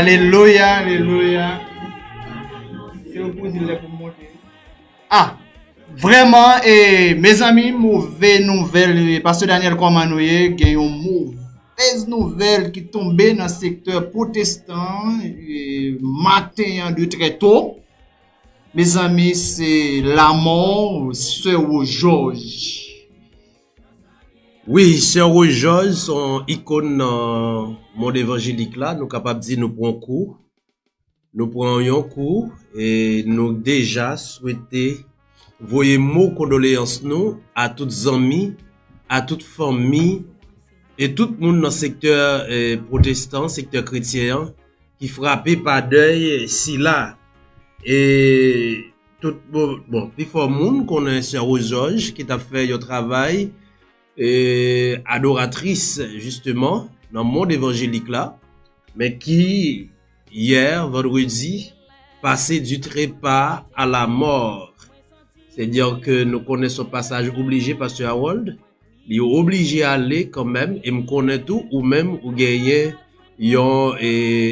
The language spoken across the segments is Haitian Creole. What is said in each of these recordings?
Alelouya Alelouya Ah Vreman e mezanmi move nouvel Pasteur Daniel koman nou ye gen yon movez nouvel ki tonbe nan sektè potestan maten an de trè to Mezanmi se lamò Sè Wojòj Wi sè Rose George se yon ikon nan mond evanjelik la nou kapab di nou pran kou nou pran yon kou e nou deja swete voye mo kondoleyans nou a tout zanmi a tout fanmi e tout moun nan sektè protestan sektè kretyen an ki frape pa dèy sila e tout bon pifò moun konnen sè Rosòj ki tap fè yon travay adoratris jisteman nan mond evanjelik la men ki yè vandredi pase di trepa a la mòr sè di anke nou konnen son pasaj oblije pastè Harold li oblije ale kanmèm e m konnen tou ou menm ou genyen yon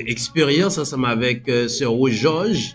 eksperyans ansanm avèk sè Rosòj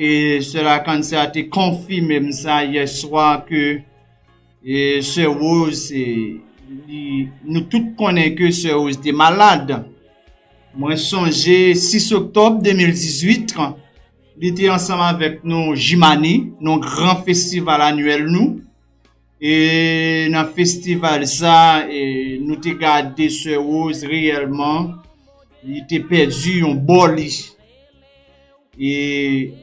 E sè Lakanse a te konfime m sa yè swa ke e sè Woz e li nou tout konnen ke sè Woz te malad. Mwen sonje 6 oktòb 2018 li te ansanm avèk nou Jimani, nou gran festival annuel nou. E nan festival sa e nou te gade sè Rose reyèlman li te pèdi yon bò li. E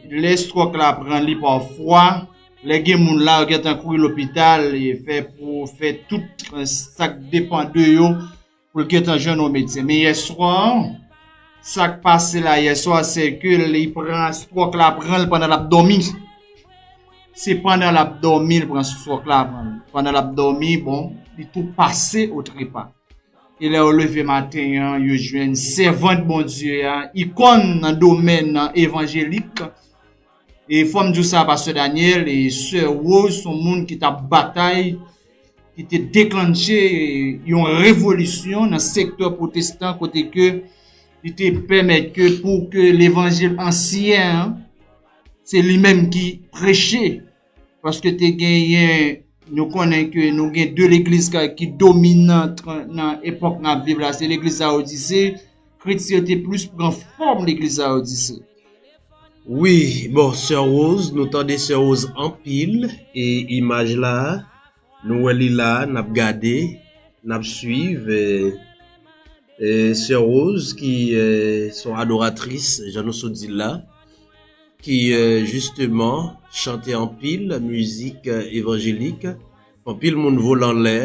lè stròk la pran li pafwa, lè gen moun la yo gentan kouri lopital e fè pou fè tout sak depan de yo pou l gentan jwenn yon medsen men yèswa an sa k pase la yèswa an se ke li pran stròk la pran l pandan l ap dòmi se pandan l ap dòmi l pran stròk la pran l pandan l ap dòmi bon li tou pase o trepa e lè yo leve maten an yo jwenn sèvant Bondye a ikòn nan domèn evanjelik E fòm diw sa pastè Daniel e sè Rose son moun ki tap batay ki te deklannche yon revolisyon nan sektè protestan kote ke li te pèmèt ke pou ke levanjil ansyen an se li menm ki preche. Paske te genyen, nou konnen ke nou gen 2 legliz ki dominan nan epòk n ap viv la, se legliz Laodise, kretyen yo te plis pran fòm legliz Laodise. Wi, bon, Sè Woz, nou tande Sè Woz anpil, e imaj la a. Nou wè li la a, n ap gade, n ap swiv Sè Rose ki se yon adoratris jan nou sot di l la, ki jisteman chante anpil mizik evanjelik, anpil moun vole anlè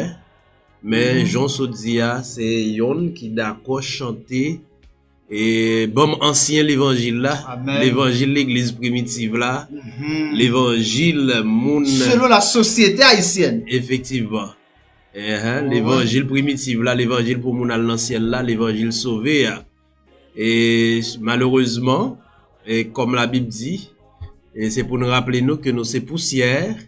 men jan w sot di a se yonn ki dakò chante. E banm ansyen levanjil la, levanjil legliz primitiv la, mm-hmm. levanjil moun... Selon la sosyete ayisyen. Efektivman. Uh-huh. Levanjil primitiv la, levanjil pou moun al nan syèl la, levanjil sove ya. E malerezman, e kom la bib di, e se pou nou raple nou ke nou se pousyèr,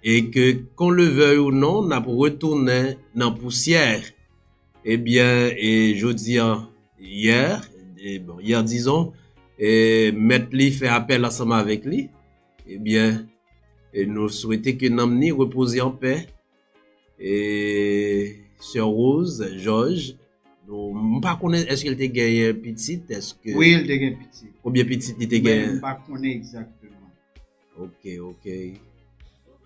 e ke kon levey ou non, nap retounen nan pousyèr. Ebyen e jodi an yè e bon yè dizon e mèt li fè apèl ansanm avèk li ebyen e nou swete ke nanm ni repoze an pè e sè Rose jòj nou m pa konnen eske l te genyen pitit eske wi l te gen pitit konbyen pitit li te genyen mwen pa konnen egzakteman. Ok ok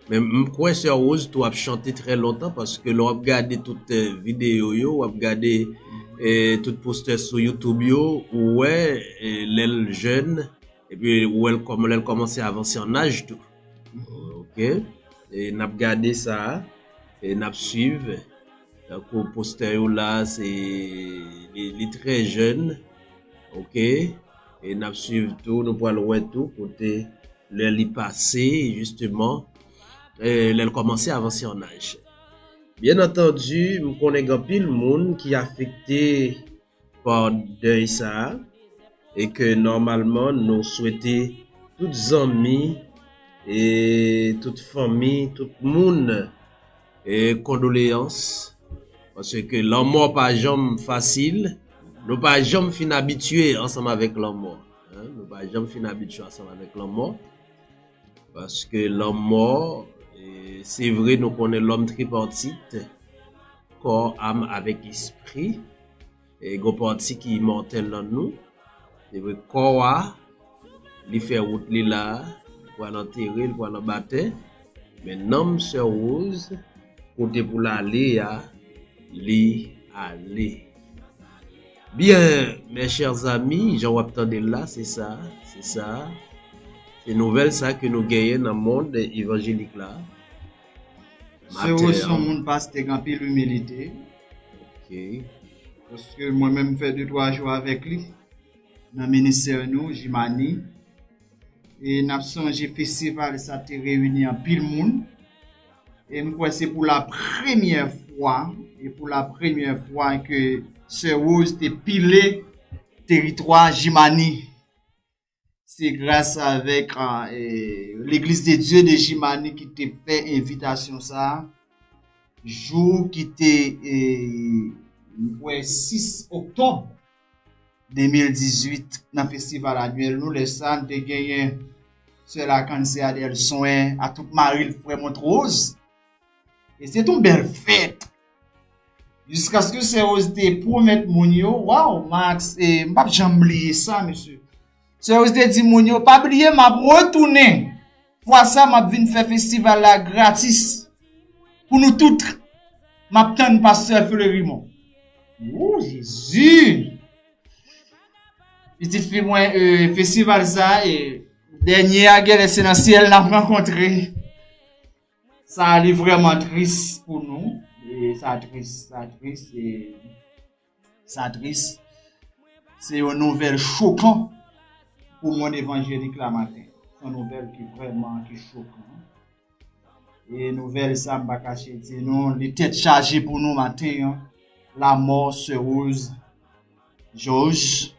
Men m kwè sè Rose tou ap chante trè lontan paske lè w ap gade tout videyo yo, w ap gade tout postè sou youtube yo ou wè lè l jèn epi ou wè l kòman lè l kòmanse avanse an aj tou ok n ap gade sa n ap swiv tankou postè yo la se li trè jèn ok. E nap swiv tou, nou pral wè tou kote lè li pase jisteman, lè l kòmanse avanse an aj. Byen antandi, m konnen gen anpil moun ki afekte pa dèy sa a e ke nòmalman nou swete tout zanmi e tout fanmi, tout moun E kondoleyans Paske ke lanmò pa janm fasil Nou pa janm fin abitye ansanm avèk lanmò Nou pa janm fin abitye ansanm avèk lanmò Paske lanmò Se vre nou konnen lòm tripartit Kò, am avèk espri E gon pati ki imòtèl nan nou, se vre kò a, li fè wout li la, li pwal antere, li pwal anbatè, men nanm sè Woz, kote pou l ale a, li ale. Byen, mè chè zami, jan wap tande l la, se sa, se sa, se nouvèl sa ke nou genyen nan mond evanjelik la. Sè Woz son moun pastèk anpil imilite. Ok. Paske mwen menm fè 2 3 jou avèk li nan ministè nou Jimani e n ap sonje festival sa te reyini anpil moun e m kwè se pou la premyè fwa e pou la premyè fwa ke sè Rose te pile teritwa Jimani. Se gras avèk Legliz de Dye de Jimani ki te fè envitasyon sa a. Jou ki te, mwen kwè, 6 oktòb 2018 nan festival anuèl nou. Lè sa a, nou te genyen Sè Lakann, Sè Adèl, Swen, Atout Maril, Frè Montrose. E se ton bèl fèt. Jiskaske sè Roz te pwomèt moun yo, waw Max e m pap janm bliye sa mesye. Sè Roz te di moun yo pa bliye m ap retounen. Fwa sa m ap vin fè festival la gratis pou nou tout. M ap tann pastè Fleurimond. Wou Jezi! Pitit fi mwen e festival sa e dènye a genlè se nan syèl n ap rankontre. Sa a li vreman tris pou nou. E sa tris, sa tris e sa tris. Se yon nouvel chokan pou moun evanjelik la maten. Yon nouvel ki vreman ki chokan. E nouvel sa m pa kache di nou, li tet chaje pou nou maten an. La mò se ouz joj.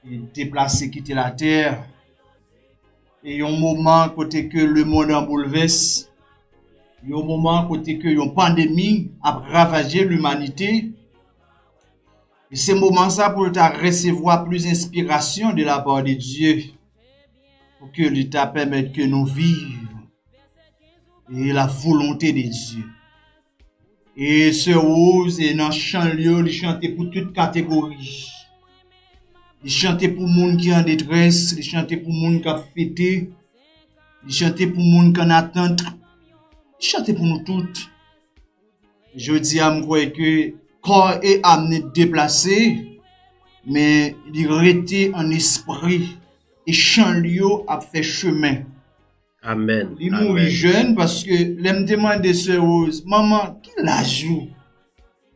Li deplase kite la ter. E yon moman kote ke lemond an boulvès, yon moman kote ke yon pandemi ap ravaje limanite, e se moman sa pou l ta resevwa plis enspirasyon de la pa de Dye, pou ke li ta pèmèt ke nou viv e la volonte de Dye. E sè Woz e nan chan l yo li chante pou tout kategori. Li chante pou moun ki an detrès, li chante pou moun k ap fete, li chante pou moun k an atant, li chante pou nou tout. Jodi a m kwè ke kò e am ni deplase, men li rete an espri e chan l yo ap fè chemen. Amen. Li mouri jèn paske lè m te mande sè Rose, manman ki laj ou?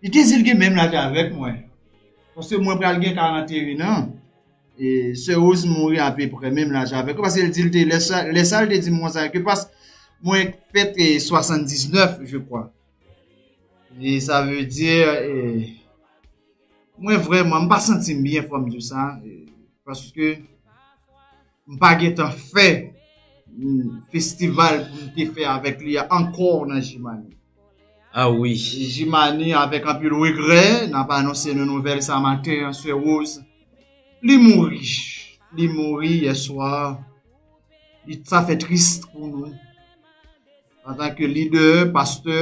Li te di l gen menm laj avèk mwen. Paske mwen pral gen 41 an. E sè Rose mouri apeprè menm laj avèk. Paske l di l te lè sa l te di m konsa ke pas mwen fete 79 je kwa. E sa vle di mwen vreman m pa santi m byen fò m di w sa. Paske M pa gen tan fè festival pou m te fè avèk li a ankò nan Jimane. A wi. Jimane avèk anpil regrè n ap anonse nou nouvèl sa maten an Sè Woz li mouri. Li mouri yè swa. Sa fè tris pou nou antanke lidè, pastè.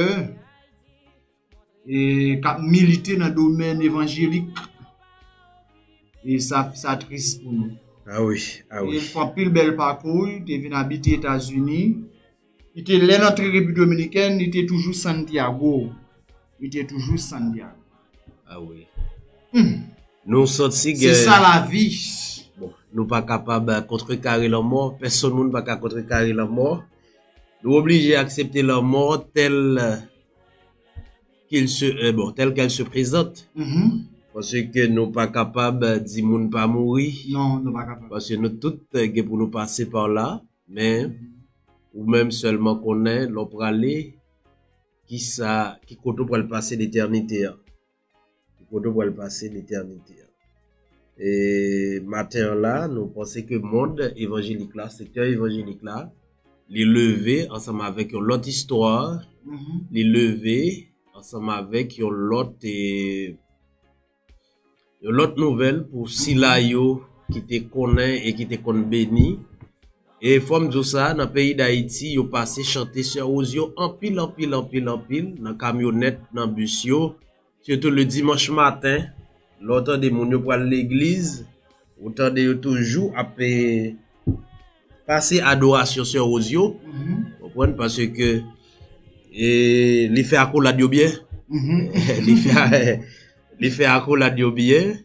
k ap milite nan domèn evanjelik e sa tris pou nou e fè anpil bèl pakou li te vin abite etazini lè l antre repiblik dominikèn li te toujou santiago li te toujou santiago se sa la vi nou pa kapab kontre kare lanmò pèsòn moun pa ka kontre kare lanmò nou oblije aksepte lanmò tèl Kil se eh bon tel kel se prezant paske nou pa kapab di moun pa mouri paske nou tout gen pou nou pase pa la men ou menm selman konnen lè w prale ki sa ki kote w pral pase letènite a. Ki kote w pral pase letènite an? E maten an la, nou panse ke mond evanjelik la, sektè evanjelik la, li leve ansanm avèk yon lòt istwa, li leve ansanm avèk yon lòt e, yon lòt nouvèl pou sila yo ki te konnen e ki te konn beni. E fòm di w sa nan peyi dayiti yo pase chante sè Woz yo anpil anpil anpil anpil nan kamyonèt nan bis yo sitou le dimanch maten lè w tande moun yo pral legliz ou tande yo toujou ap pase adorasyon sè Woz yo konprann paske li fè akolad yo byen li fè akolad yo byen.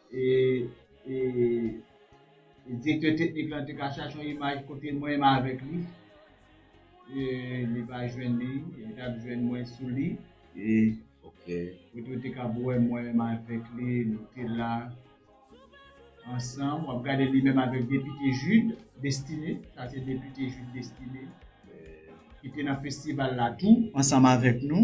Direktè teknik lan te ka chache yon imaj kote mwen menm avèk li. Li pa jwenn li. Li t ap jwenn mwen sou li. Kote yo te kab wè mwen menm avèk li. Nou te la ansanm. W ap gade li menm avèk Depite Jude Destiné. Sa se Depite Jude Destiné. Ki te nan festival la tou ansanm avèk nou.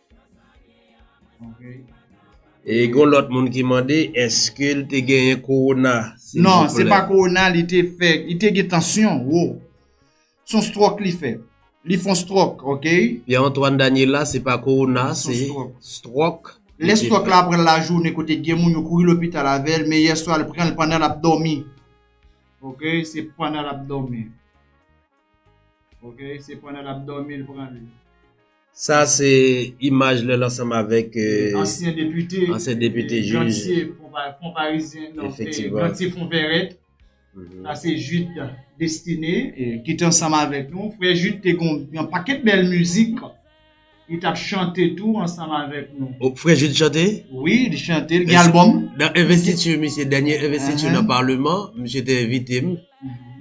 E gon lòt moun ki mande eske l te genyen korona? Non, se pa korona li te fè, li te gen tansyon wo. Son stròk li fè. Li fon stròk, ok? Pye Antwàn Daniela, se pa korona, se stròk. Lè stròk la pran la jounen kote gen moun yo kouri lopital avè l, men yè swa li pran l pandan l ap dòmi. Ok, se pandan l ap dòmi. Ok, se pandan l ap dòmi l pran li. Sa se imaj lè l ansanm avèk. Ansyen depite. Ansyen depite jij. Gantye Fonparizyen. Efektivman. Gantye Fonvèrèt. Sa se Jude Destiné. Ki te ansanm avèk nou. Frè Jude te gen yon pakèt bèl mizik. Li tap chante tou ansanm avèk nou. O, frè Jude chante? Wi, li chante, li gen album. Nan investiture misye, dènye investiture nan parlement, misye te envite m,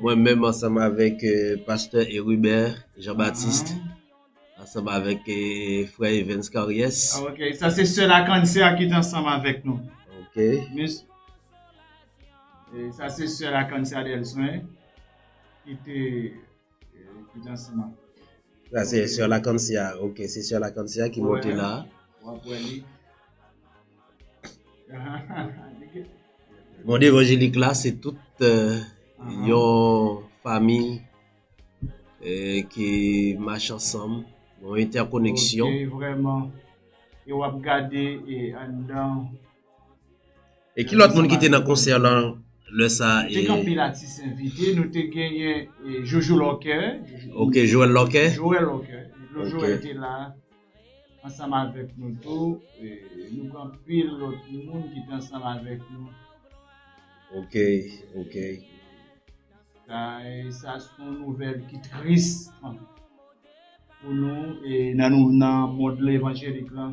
mwen menm ansanm avèk Pasteur Herubert Jean Baptiste, ansanm avèk frè Evens Caries. Ah ok, sa se sèl ak an sè a ki te ansanm avèk nou. Ok. Mis, e sa se sèl ak an sè a Delsoin ki te Sa se sè Lakancia, ok, se sè Lakancia ki monte la. Wap wè li. Monde évangélique la se tout euh, uh-huh. yon fami ki euh, mach ansanm, yon entèkoneksyon. Ok, vreman. E wap gade e andan E ki lòt moun ki te nan konsè lan lè sa e? Te gen anpil atis envite, nou te genyen Jojo Lòkè. Ok, Joel Lòkè. Joel Lòkè. Lò Joel te la, ansanm avèk nou tou, nou gen anpil lòt moun ki te ansanm avèk nou. Ok, ok. Sa se yon nouvèl ki tris pou nou e nan nou nan mond levanjelik lan.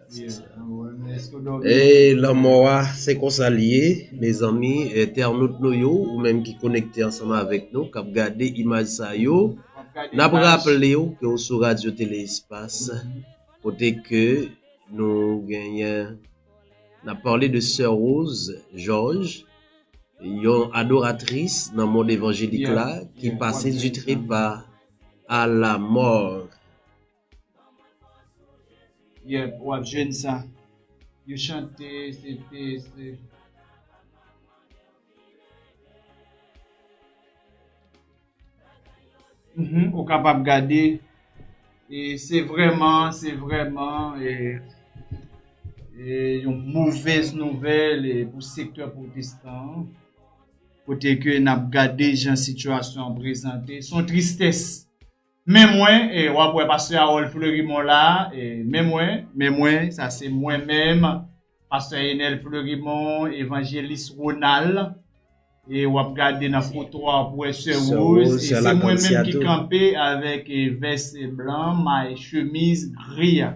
Eey lanmò a se konsa li ye mezanmi entènot nou yo ou menm ki konekte ansanm avèk nou kap gade imaj sa yo nap raplew ke ou sou radyo tele espas kote ke nou genyen nap pale de sè Rose George yon adoratris nan mond evanjelik la ki pase di trepa a la mò. Yep wap jwenn sa. Yo chante se te se. Uhmm ou kapab gade e se vreman se vreman e e yon movez nouvel e pou sekte protestan an kote ke nap gade jan sitiyasyon an prezante son tristes. Men mwen, e wap wè pastè Harold Fleurimond la, e men mwen, men mwen, sa se mwen menm, pastè Enel Fleurimond, evanjelis Ronald, e wap gade nan foto a wap wè sè Rose, e se mwen menm ki kanpe avèk vès blan, may chemiz gri a.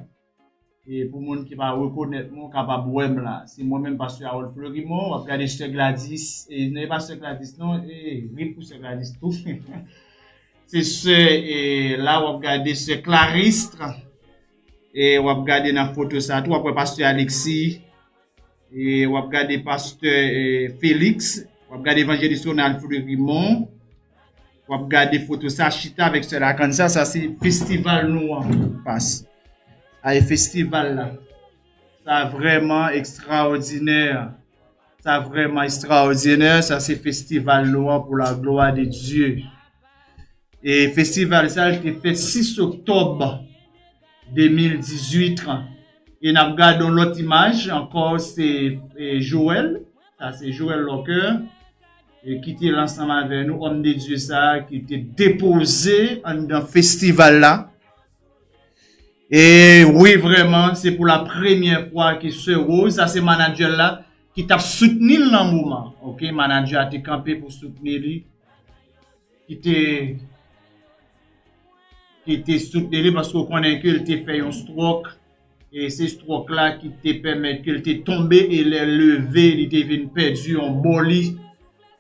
E pou moun ki pa rekonèt mwen ou kapab wè m la. Se mwen menm Pastè Harold Fleurimond. W ap gade Sè Gladys. E non e pa Sè Gladys non. E rip pou Sè Gladys tou. Se sè e la w ap gade Sè Clarisse. E w ap gade nan foto sa tou w ap wè Pastè Alexis. E wap gade pastè Felix, wap gade evanjelis Ronald Fleurimon, wap gade foto sa chita avèk sè Lacan sa, sa se festival nou an pas. A e festival la. Sa vreman ekstraodinè. Sa vreman ekstraodinè, sa se festival nou an pou la gloa de Diyo. E festival sa te fè 6 oktob. 2018 lan. E nap gade yon lòt imaj ankò se Joel, sa se Joel Locker ki te la ansanm avè nou, Homme de Dieu sa ki te depoze anndan festival la. E wi vrèman se pou la premyè fwa ke Soeur Rose, sa se manadjè l la, ki tap soutni l nan moman. Ok, manadjè a te kanpe pou soutni li. ki te ki te soutni li paske ou konnen ke li te fè yon stròk e se stròk la ki te pèmèt ke li te tonbe e lè l leve li te vin pèdi yon bò li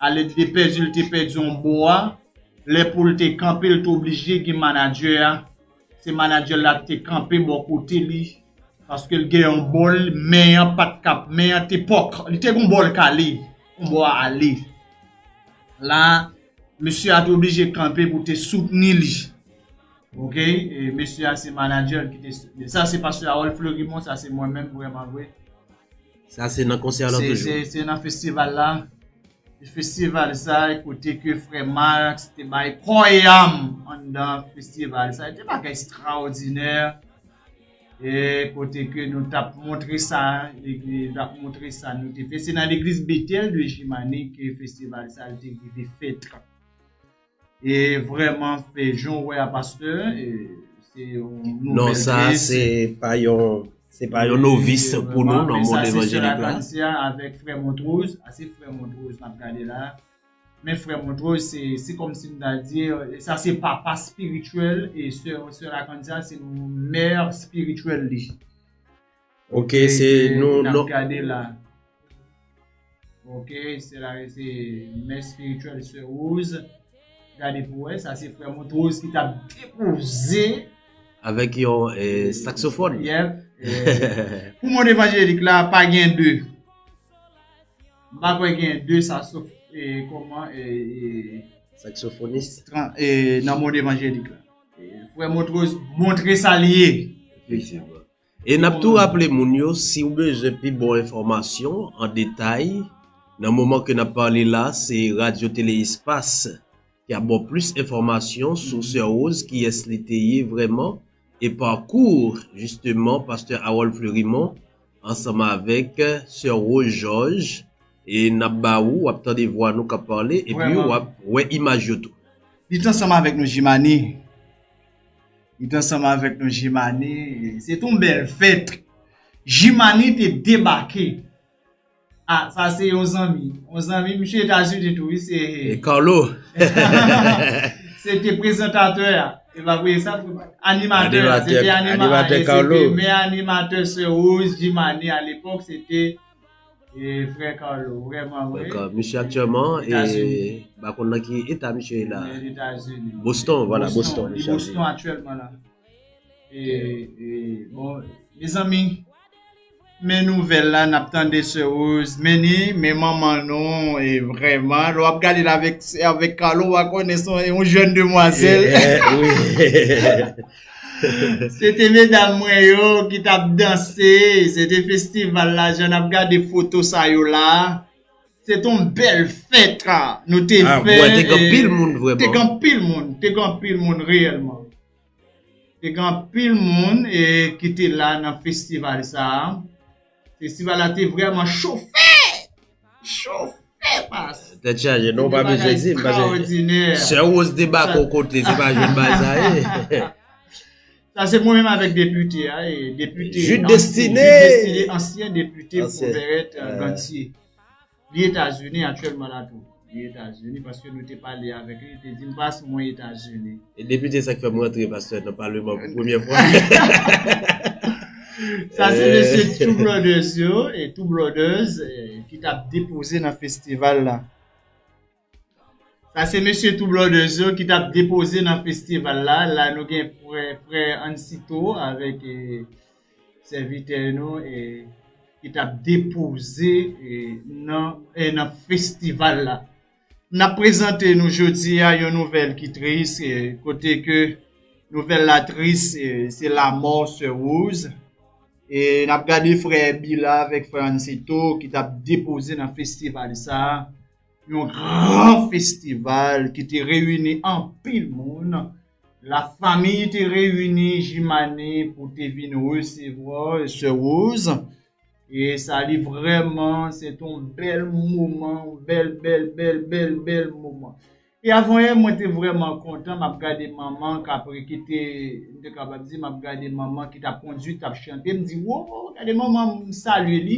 a lè li te pèdi li te pèdi yon bò a lè pou l te kanpe li te oblije gen manadjè a Se manager la te kanpe bò kote li paske l gen yon bòl men an pat ka men an te pòk li te gon bòl kale yon bò a ale la mesye a te oblije kanpe pou te soutni li ok e mesye a se manager ki te soutni l sa se pastè Harold Fleurimond sa se mwen menm vrèmanvre sa se nan konsè a lan toujou se nan festival la. Festival sa e kote ke frè Max te bay kò e am anndan festival sa. Te bagay ekstraòdinè e kote ke nou tap montre sa, tap montre sa nou te fè. Se nan legliz Bethel de Jimane ke festival sa te rive fèt. E vreman e jan w wè a pastè e se yon nouvèl Non sa se pa yon se pa yon novis pou nou nan mond evanjelik la. Sa se sè Anastasia avèk frè Montrose, a se frè Montrose n ap gade la. Men frè Montrose se se kòm si m ta di sa se papa spirityèl e sè Anastasia se mère spirityèl li. Ok se nou nou. Nap gade la. Ok se la se mè spirituel se rose. Gade pou wè sa se frè montrose ki tap depoze. Avèk yon saksofòn. Yep. Pou moun evanjelik la pa gen de. M pa kwè gen de saksof e kòman e. Saksofonis. E nan moun evanjelik la. Frè montrose montre sa li ye. Efektivman. E nap tou raple moun yo siw bezwen pi bon enfòmasyon an detay nan moman ke nap pale la se Radyo Tele Espas ki ap baw plis enfòmasyon sou Sè Rose kiyès li te ye vrèman e pakou jisteman Pastè Harold Fleurimond ansanm avèk Sè Rose Georges e nap ba ou wap tande vwa nou kap pale epi wap wè imaj yo tou. Li t ansanm avèk nou Jimani. Li t ansanm avèk nou Jimani, se t yon bèl fèt. Jimani te debake. A, sa se yon zanmi. Yon zanmi, misye Etazini tou wi, se. E Carlo. Se te prezantatè a. E pa vre sa pou. Animatè. Animatè. Se te animatè. Animatè Carlo. Se te premye animatè Sè Woz Jimani a lepòk, se te. Misye aktyèman Mpa konn nan ki eta misye ye la Boston Mwen nouvèl la nap tande se woz Men ni men manman nou Vreman lè wap gadel avèk Carlo Ou va konnen son jèn demwazèl Se te medam mwen yo ki t ap danse, se te festival la jan n ap gade foto sa yo la. Se t yon bèl fèt nou te fè. Ah mwen te gen anpil moun vrèman. Te gen anpil moun, te gen anpil moun reyèlman. Te gen anpil moun ki te la nan festival sa a. Festival la te vreman chofe! Chofe pas! Tèt chaje non ou pa bezwen dim paske sè Rose te bak on kote se pa jwenn bagay sa ye. Sa se mwen menm avèk depite a e depite Jude Destiné ansyen depite pou Vèrèt Gantye. Li Etazini aktyèlman la tou. Li Etazini paske nou te pale avèk li, li te di m pas mwen Etazini. E depite sa ki fè m rantre pastè nan paleman pou premyè fwa. Sa se mesye Two Brothers yo, Two Brothers ki tap depoze nan festival la. Sa se mesye Two Brothers yo ki tap depoze nan festival la. La nou gen frè, frè Ansito avèk e, sèvitè nou e, ki tap depoze e, nan, e, nan festival la. Nap prezante nou jodi a yon nouvèl ki tris e, kote ke nouvèl la tris e, se lamò sè Rose. E nap gade frè Bila avèk frè Ansito ki tap depoze nan festival sa a. Yon gran festival ki te reyini anpil moun. La famiy te reyini Jimane pou te vin resevwa sè Rose. E sa li vrèman se te yon bèl moman, yon bèl bèl bèl bèl bèl moman. E avanyè mwen te vrèman kontan m ap gade manman k ap ki te m te kapab di m ap gade manman ki t ap kondui, k t ap chante m di woo gade manman m salye li.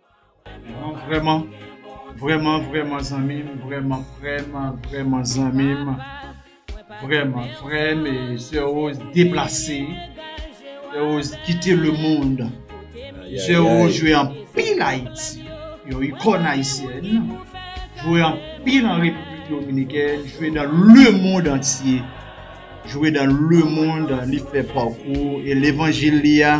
Vreman Vreman vreman zanmi m vreman frem vreman zanmi m vreman frem e sè yo deplase sè yo kite le mond sè yo jwe anpil ayiti yon ikon ayisyen jwe anpil an repiblik dominiken jwe nan le mond antye jwe nan le mond li fè pakou e levanjil li a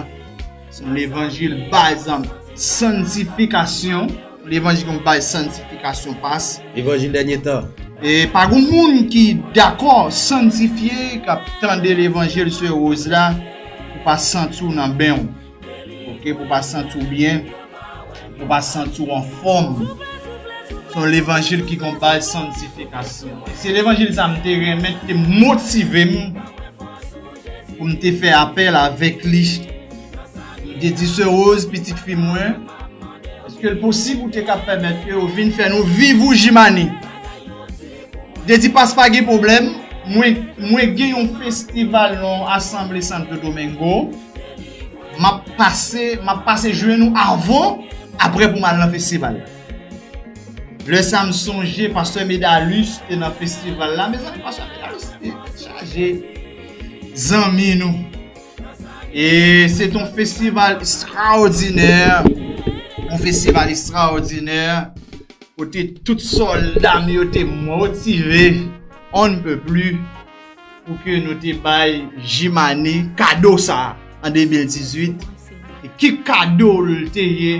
Son levanjil baz an santifikasyon. Levanjil yon baz santifikasyon pas. Levanjil dènye tan. E pa goun moun ki dakò santifye kap tande levanjil sè Rose la pou pa santi w nan ben w. Ok pou pa santi w byen. Pou pa santi w anfòm. Son levanjil ki gon baz santifikasyon. Se levanjil sa m te renmen te motive m. pou m te fè apèl avèk li. M te di sè Rose, pitit fi mwen, èske l posib ou te ka pèmèt ke ou vin fè nou viv ou Jimane? M te di pas pa gen pwoblèm, mwen gen yon festival nan yon asanble Santo Domingo, m ap pase jwenn ou avan, aprè pou m al nan festival la. Lè sa m sonje pastè Medalus te nan festival la mezanmi pastè Medalus te chaje zanmi nou e se ton festival estraòdinè yon festival estraòdinè kote tout sòlda m yo te motive on ne peut plus pou ke nou te bay Jimani kado sa an 2018 e ki kado l te ye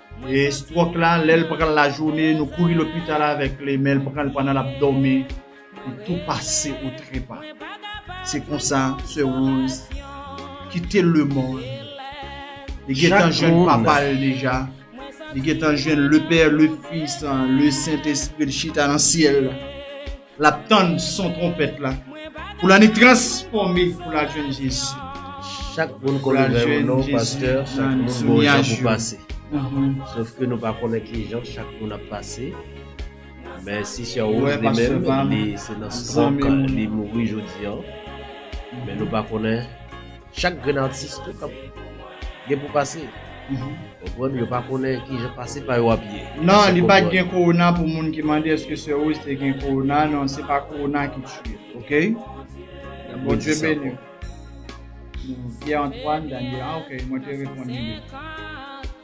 E stròk la, lè l pran l lajounen, nou kouri lopital avèk li, men l pran l pandan l ap dòmi, li tou pase o trepa. Se konsa, Sè Woz kite lemonn. Li gen tan jwenn papa l deja. Li gen tan jwenn Lepè, Lefis, Lesentespri l chita nan syèl la. L ap tann son twonpèt la. Pou l annik transfòme pou l al jwenn Jezi. Chak moun konnen lè yo non pastè, chak moun gen yon jan pou pase. Sof ke nou pa konnen ki jan chak moun ap pase. Men si sè Rose li menm, li se nan stròk li mouri jodi an. Men nou pa konnen. Chak grenn atis tout ap gen pou pase Konprann yo pa konnen kijan pase pa yo ap ye Nan li pat gen korona pou moun ki mande eske sè Rose te gen korona nan se pa korona ki tiye l ok Ke Bondye beni w Pierre Antoine Daniel ah ok mwen te reponn li deja.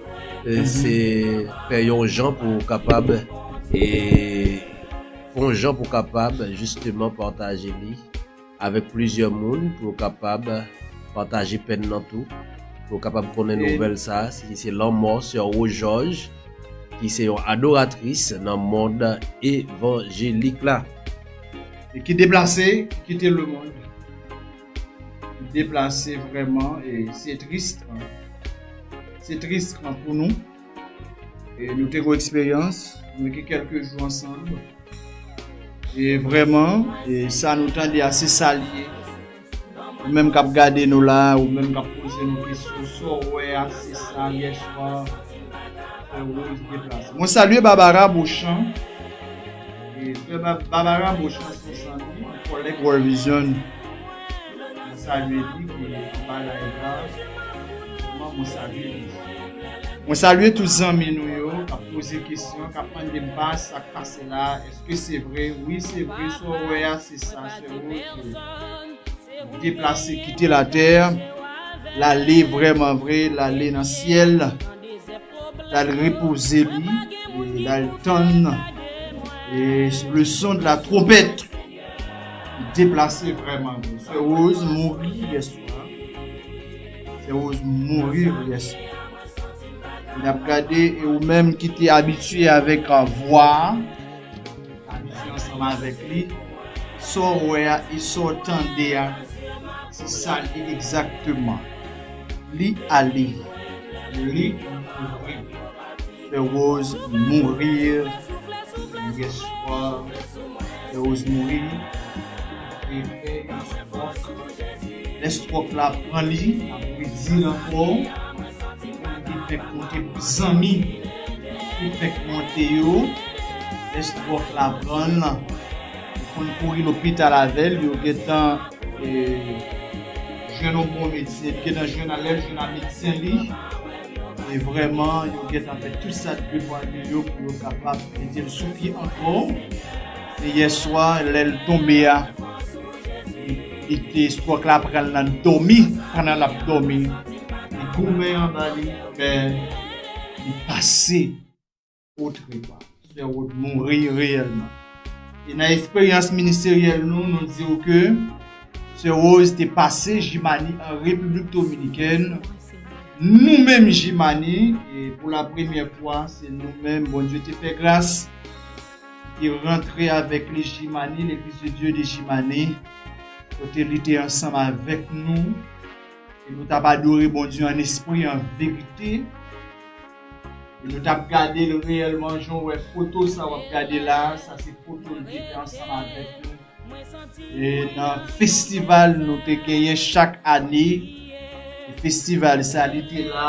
se fè yon jan pou ou kapab e fè yon jan pou ou kapab jisteman pataje li avèk plizyè moun pou yo kapab pataje pèn nan tou pou yo kapab konnen nouvèl sa ki se lanmò sè Rojòj ki se yon adoratris nan mond evanjelik la. E ki deplase, ki kite lemonn. deplase vreman e se tris se tris pou nou e nou te gwo eksperyans nou gen kelke jou ansan e vreman e sa nou tande a se sa li ye ou menm kap gade nou la ou menm kap poze nou kesyon so we a se sa ye chwa mwen salye Barbara Beauchamp e Barbara Beauchamp se yon zanmi yon kolek World Vision Mwen salye li ki anba live la. Kòman mwen salye li? Mwen salye tout zanmi nou yo kap poze kesyon, kap mande m baz sak pase la, eske se vre? Wi se vre, sa w wè a se sa sèlman ke li deplase kite latè, lale vrèman vre, lale nan syèl, lal repoze li, lal tann le son de la twonpèt. Deplase vrèman vre. Sè Rose mouri yè swa. Sè Rose mourir yè swa. N ap gade e ou menm ki te abitye avèk a vwa a, abitye ansanm avèk li, sa w wè a e sa w tande a se sa l ye egzakteman. Li ale. Li mouri. Fe rose mourir yeswa fe rose mouri efe estrok le strok la pran li ap mouri dil anko li fek monte pou zanmi li fek monte yo le strok la pranl yo konn kouri lopital avel yo gentan jwenn yon bon medsen epi gentan jwenn lel jwenn a medsen li. E vrèman, yo gentan fè tout sa dwe pou anil yo pou yo kapab mete l sou pye ankò. Se yè swa lè l tonbe a, li te stròk la pran l nan dòmi, pandan l ap dòmi, li goumen anba li, men li pase. Potre pa Sè Rod mouri reyèlman. E nan esperyans ministeryèl nou, nou di ou ke Sè Rose te pase Jimani an Repiblik Dominikèn. Nou menm Jimani, e pou la premyè fwa, se nou menm Bondye te fè gras, ki te rantre avèk li Jimani, L'Eglise de Dieu de Jimani, kote li te ansanm avèk nou, e nou t ap adore Bondye an espri, an verite. E nou tap gadel reyèlman jan w wè foto sa wap gade la a sa se foto l te fè ansanm avèk nou e nan festival nou te genyen chak ane e festival sa li te la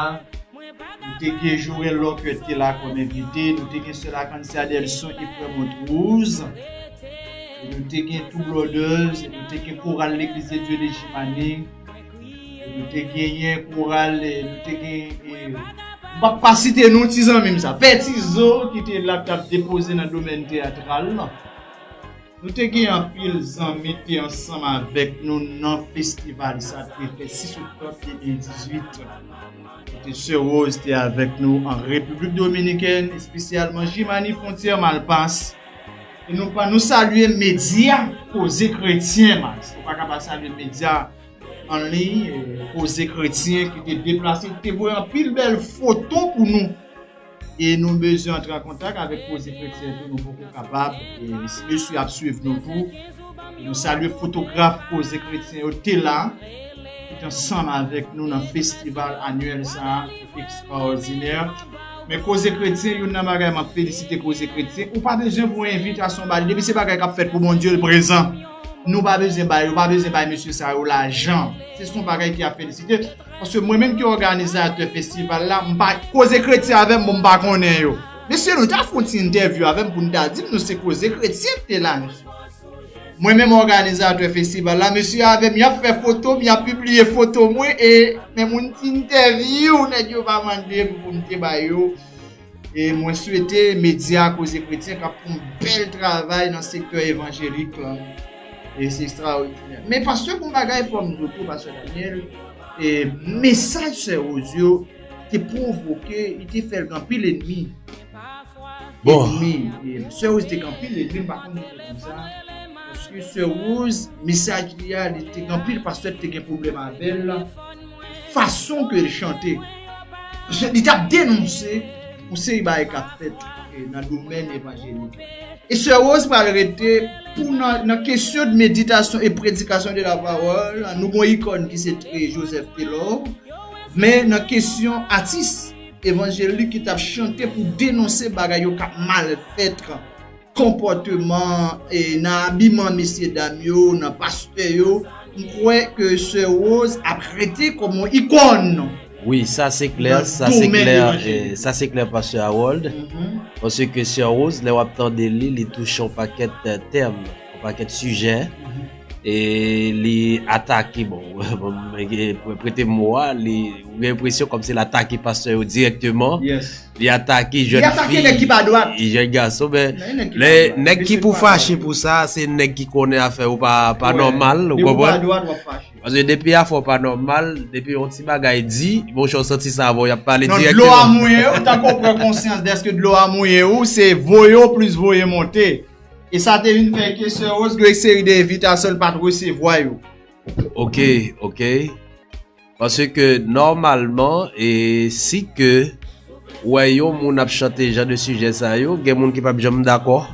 nou te gen Joel Locke te la kòm envite nou te gen sè Lakansi Adelson e frè Montrose e nou te gen Two Brothers e nou te gen koral Legliz de Dye de Jimane Nou te genyen koral, nou te genyen... M pa pa site non ti zanmi m sa. Pè ti zo ki te la k tap depoze nan domèn teyatral la. Nou te genyen anpil zanmi te ansanm avèk nou nan festival sa k te fèt 6 oktòb 2018. Kote sè Rose te avèk nou an Repiblik Dominikèn, espesyalman Jimani Fontyè Malpas. E nou pa nou salye medya koze kretyen mas. Nou pa ka pa salye medya anliy koze kretyen ki te deplase, ki te voye anpil bèl foto pou nou. E nou bezwen antre an kontak avèk koze kretyen tou nou poko kapab. Si mesye ap swiv nou tou. Nou salye fotograf Koze Kretyen yo te la pou te ansanm avèk nou nan festival anyèl sa a ki ekstraòdinè. Men Koze Kretyen, youn nan bagay m ap felisite Koze Kretyen, ou pa bezwen voye envitasyon ba li. Depi se bagay k ap fèt pou Bondye, l prezan. Nou pa bezwen bay, yo pa bezwen bay mesye sa yo lajan. Se s on bagay ki a felisite. Paske mwen menm ki òganizatè festival la m pa. Koze kretyen avèm bon m pa konnen yo. Mesye nou ta fè yon ti entèvyou avèm pou nou ta dim nou se koze kretyen ki te la mesye. Mwen menm òganizatè festival la mesye avèm yap fè foto m yap pibliye foto mwen e menm yon ti entèvyou nèg yo pa mandem pou m te ba yo. E mwen swete medya koze kretyen kap fon bel travay nan sektè evanjelik lan. E se ekstraòdinè. Men pastè gon bagay fòm di w tou pastè Daniel, e mesaj sè Rose yo te pwovoke, li te fè l gen anpil enmi. Bon. Enmi. Sè Rose te gen anpil enmi, m pa konn si se konsa. Paske sè Rose, mesaj li a, li te gen anpil pastè ki te gen pwoblèm avè l. Fason ke l chante, li t ap denonse yon seri bagay k ap fèt nan domèn evanjelik la. E sè Rose pral rete pou nan kesyon de meditasyon e predikasyon de la pawòl, nou gon ikòn ki se Joseph Taylor, men nan kesyon atis evanjelik ki t ap chante pou denonse bagay yo k ap mal fèt. konpòteman nan abiman mesye dam yo nan pastè yo m kwè ke sè Rose ap rete kòm yon ikòn nan domèn evanjelik. Sa se klè pastè Harold paske sè Rose lè wap tande li li touche yon pakèt tèm yon pakèt sijè e li atake bon prete m mo a ou gen enpresyon kòmsi l atake pastè yo dirèkteman Li atake jèn fi. Li atake nèg ki pa dwat. E jèn gason men. Nan nèg ki pa dwat. Lè nèg ki pou fache pou sa se nèg ki konnen a fè ou pa nòmal. Ou konprann? Depi ou pa dwat wap fache. Paske depi a fè ou pa nòmal, depi yon ti bagay di, monchè ou santi sa avè w yap pale dirèkteman. Non dlo a mouye ou tanke ou pran konsyans dèske dlo a mouye ou se voye ou plis voye monte. E sa te vin fè ke Sè Rose gen yon seri de envitasyon li pat resevwa yo. Ok, ok. Pase ke nòmalman e si ke ou wè yon moun ap chante jan de sijè sa yo, gen moun ki pap janm dakò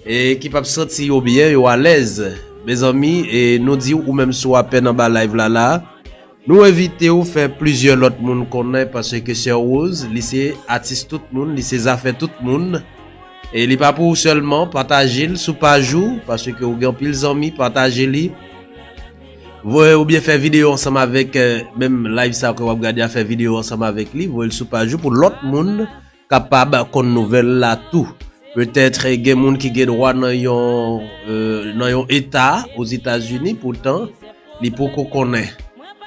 e ki pap santi yo byen, yo alèz. Mezanmi e nou di ou menm si w apèn anba live la la, nou envite w fè plizyè lòt moun konnen pase ke Sè Rose li se atis tout moun, li se zafè tout moun e li pa pou ou sèlman, pataje l sou paj ou pase ke ou gen anpil zanmi, pataje li. Voye oubyen fè videyo ansanm avèk menm live sa ke wap gade a fè videyo ansanm avèk li voyel sou paj ou pou lòt moun kapab konn nouvèl la tou petèt gen moun ki gen dwa nan yon nan yon eta ozetazini poutan li poko konnen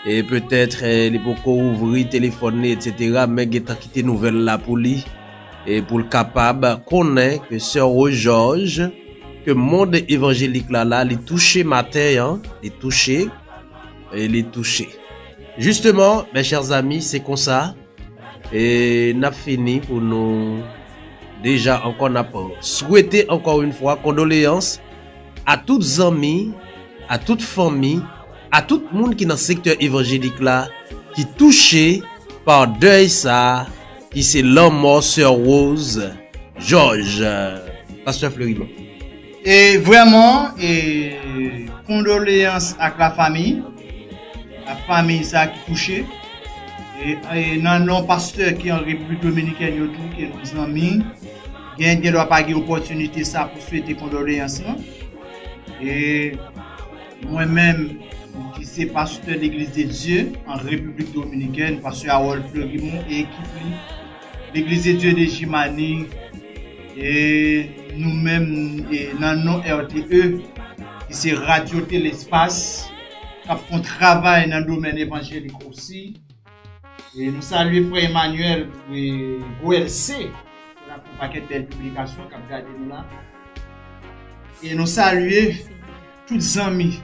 e petèt li poko ouvri telefòn li etc men gentan kite nouvèl la pou li e poul kapab konnen ke sè Rojòj Ke mond evanjelik la la li touche maten an, li touche e li touche. Jisteman, mè chè zami, se konsa e n ap fini pou nou deja ankò n ap swete ankò yon fwa kondoleyans a tout zanmi, a tout fanmi, a tout moun ki nan sektè evanjelik la ki touche pa dèy sa Ki se lanmò sè Rose George Pastè Fleury Bon. E vrèman e kondoleyans ak la fami, ak fami sa ki touche, e nan non pastè ki an Repiblik Dominikèn yo tou ke nou zanmi, gen gen dwa pa gen opòtinite sa pou swete kondoleyans lan. E. Mwen menm ki se pastè Legliz de Dye an Repiblik Dominikèn, pastè Harold Fleurimond e ekip li, Legliz de Dye de Jimani e nou menm e nan non RTE ki se Radyo Tele Espas k ap fon travay nan domèn evanjelik osi. E nou salye frè Emmanuel e Goelce ki la pou pakèt bèl piblikasyon k ap gade nou la. E nou salye. tout zanmi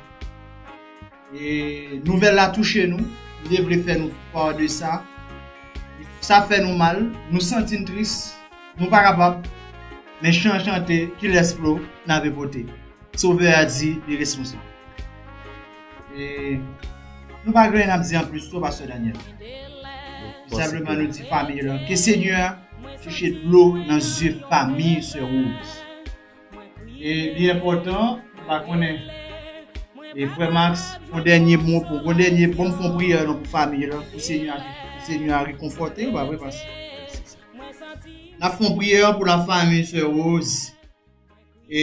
e nouvèl la touche nou nou te vle fè nou pa de sa sa fè nou mal nou santi n tris nou pa kapab men chan chante ki lès flo nan ve pote sovè a di li responsab e nou pa gen nan di an plis sou pastè Daniel nou senpleman nou di fami yo ke senyè a touche dlo nan zye fami se ou E li enpòtan ou pa konnen. E frè Max, yon dènye mo pou, yon dènye bon fon priyè nou pou famiy lan, pou Senyè a, pou Senyè a rekonfòte yo, pa vre pas? Nap fon priyè pou la famiy sè Rose. E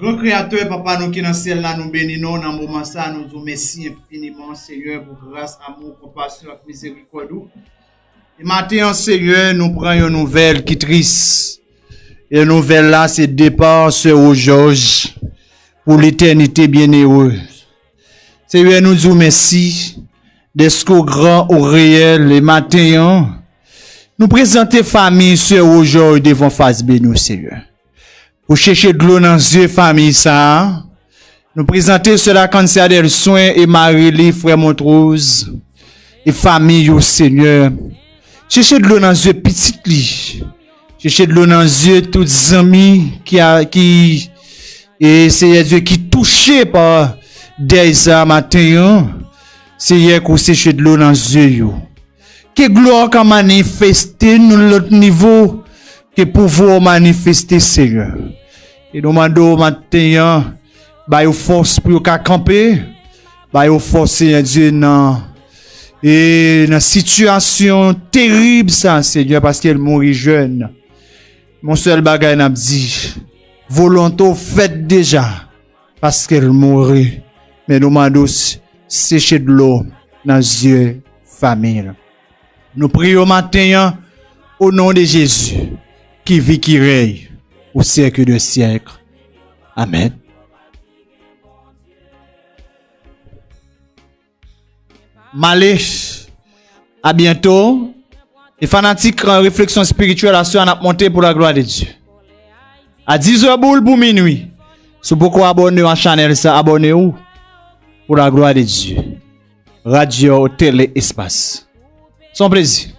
gran kreyatè papa nou ki nan syèl la nou beni non nan moman sa nou di w mèsi enfiniman Senyè pou gras, amou, konpasyon ak mizerikòd ou. E maten an Senyè nou pran yon nouvèl ki tris. E nouvèl la se depa sè Rojòj pou letènite byenere. Senyè nou di w mèsi dèske w gran, w reyèl e maten an nou prezante fanmi sè Rojòj devan fas beni w Senyè. Pou chèche dlo nan zye famiy sa a, nou prezante sè Lakansi Adèlswen e mari li, frè Montwoz, e famiy yo, Senyè, chèche dlo nan zye pitit li, chèche dlo nan zye tout zanmi ki, ki, e, Senyè Dye, ki touche pa dèy sa a maten an, Senyè, ke w seche dlo nan zye yo. Ke glwa w ka manifeste nan lòt nivo, ke pouvwa w manifeste Senyè. E nou mande w maten an, ba yo fòs pou yo ka kanpe, ba yo fòs Senyè Dye nan e nan sitiyasyon terib sa Senyè paske l mouri jèn. Mon sèl bagay n ap di, volonte w fèt deja. paske l mouri men nou mande w seche dlo nan zye fanmiy lan nou priye w maten an o non de Jezi ki vi ki rèy pou syèk de syèk amèn. Male A byento E fanatik refleksyon spirityèl aswè an ap monte pou la glwa de Dye A 10 è boul pou minwi Si w poko abòne a chanèl sa abòne w Pou la glwa de Dye Radyo tele espas Son plezi